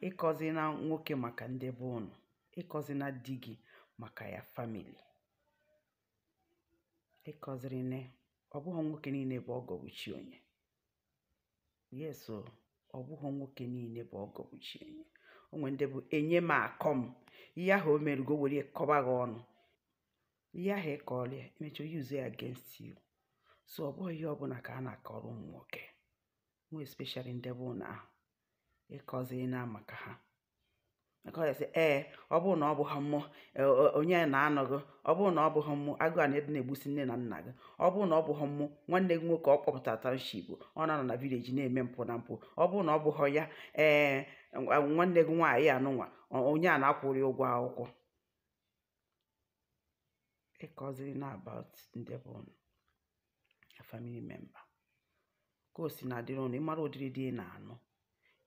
ịkọzina nwoke maka ndị be ụnụ ịkọzina di gị maka your family ịkọzirina ọ bụghị nwoke niile bụ ọgọ bụ chi onye yes o ọ bụghị nwoke niile bụ ọgọ bụ chi onye o nwere ndị bụ enye m akọ m ihe ahụ o meru gị o were ya kọba gị ọnụ ihe ahụ ị kọrọ ya emecha use ya against you so ọ bụghị ihe ọbụla ka a na-akọrọ ụmụ nwoke more especially ndị be unu ahụ ịkọzina maka ha akọghasị ee ọ bụrụ na ọ bụghị mụ e, onye na-anụ gị ọ bụrụ na ọ bụghị mụ agụụ a na-adị na-egbusi nne na nna gị ọ bụrụ na ọ bụghị mụ nwanne gị nwoke ọ kpọpụtara township ọ na-anọ na village na-eme mpụ na mpụ ọ bụrụ na ọ bụghị ya ee nwanne gị nwaanyị anụnwa onye a na-akwụrị ụgwọ akwụkwọ ịkọzirina about ndị bụ a family member ka o si na-adịrị unu ị mara ụdịrị di ị na-anụ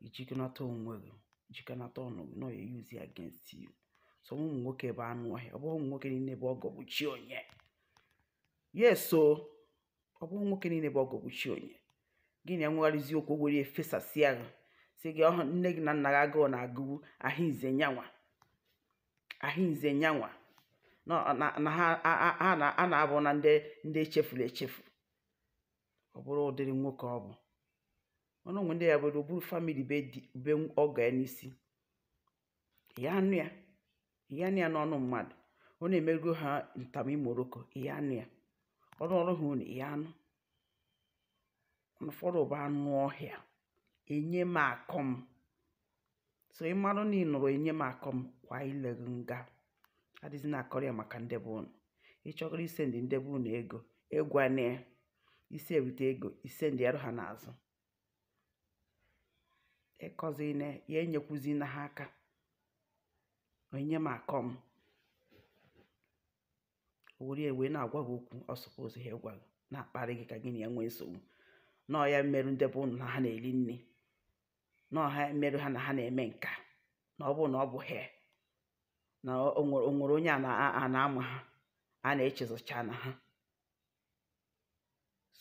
i jikọnata onwe gị jikọnata ọnụ gị na ọ ya use it against you some ụmụ nwoke bụ anụ ọhịa ọ bụghị ụmụ nwoke niile bụ ọgọ bụ chi onye yes so ọ bụghị nwoke niile bụ ọgọ bụ chi onye gị na ya nwegharịzi okwu o were ya fesasịa gị sị gị ọhụ nne gị na nna gị agụụ na-agụwu ahụ ize nyanwa ahụize nyanwa na ọ- na- na ha a- a- a na- a na-abụ na ndị ndị echefuru echefu ọ bụrụ ụdịrị nwoke ọ bụ ọnụ o nwe ndị ya bụrụ o buru family be di be ọgọ ya n'isi ya anụ ya ya anụ ya n'ọnụ mmadụ ọ na-emerugo ha ntam imoroko ya anụ ya ọ rụọrụ ha ụnọ ya anụ ụfọdụ bụ anụ ọhịa enye m akọ m so ị marụ na ị nụrụ enye m akọ m kwa ile gị nga adịzina akọrọ ya maka ndị be ụnụ ị chọgoro isendị ndị be ụnụ ego ị gwana ya i si eweta ego i sendịarụ ha n'azụ ịkọzina ya enyekwuzina ha aka enye m akọ m were ya wee na-agwa gị okwu ọ suppose ha ịgwa gị na-akparị gị ka gị na ya nwee nsogbu na ọ ya merụ ndị be ụnụ na ha na-eri nri na ọ ha merụ ha na ha na-eme nka na ọ bụrụ na ọ bụghị ya na o nwere o nwere onye a na- a na-ama ha a na-echezọcha na ha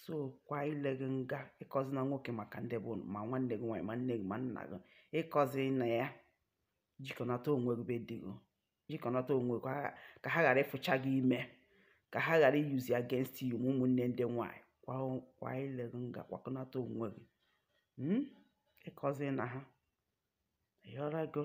so kwa ile gị nga ịkọzina nwoke maka ndị be unu, ma nwanne gị nwaanyị ma nne gị ma nna gị ịkọzina ya jikọnata onwe gị be di gị jikọnata onwe gị ka- ka ha ghara ịfụcha gị ime ka ha ghara iyuzi against you ma ụmụnne ndị nwaanyị kwa kwa ile gị nga kwakọnata onwe gị Mm? ịkọzina ha ị ghọtago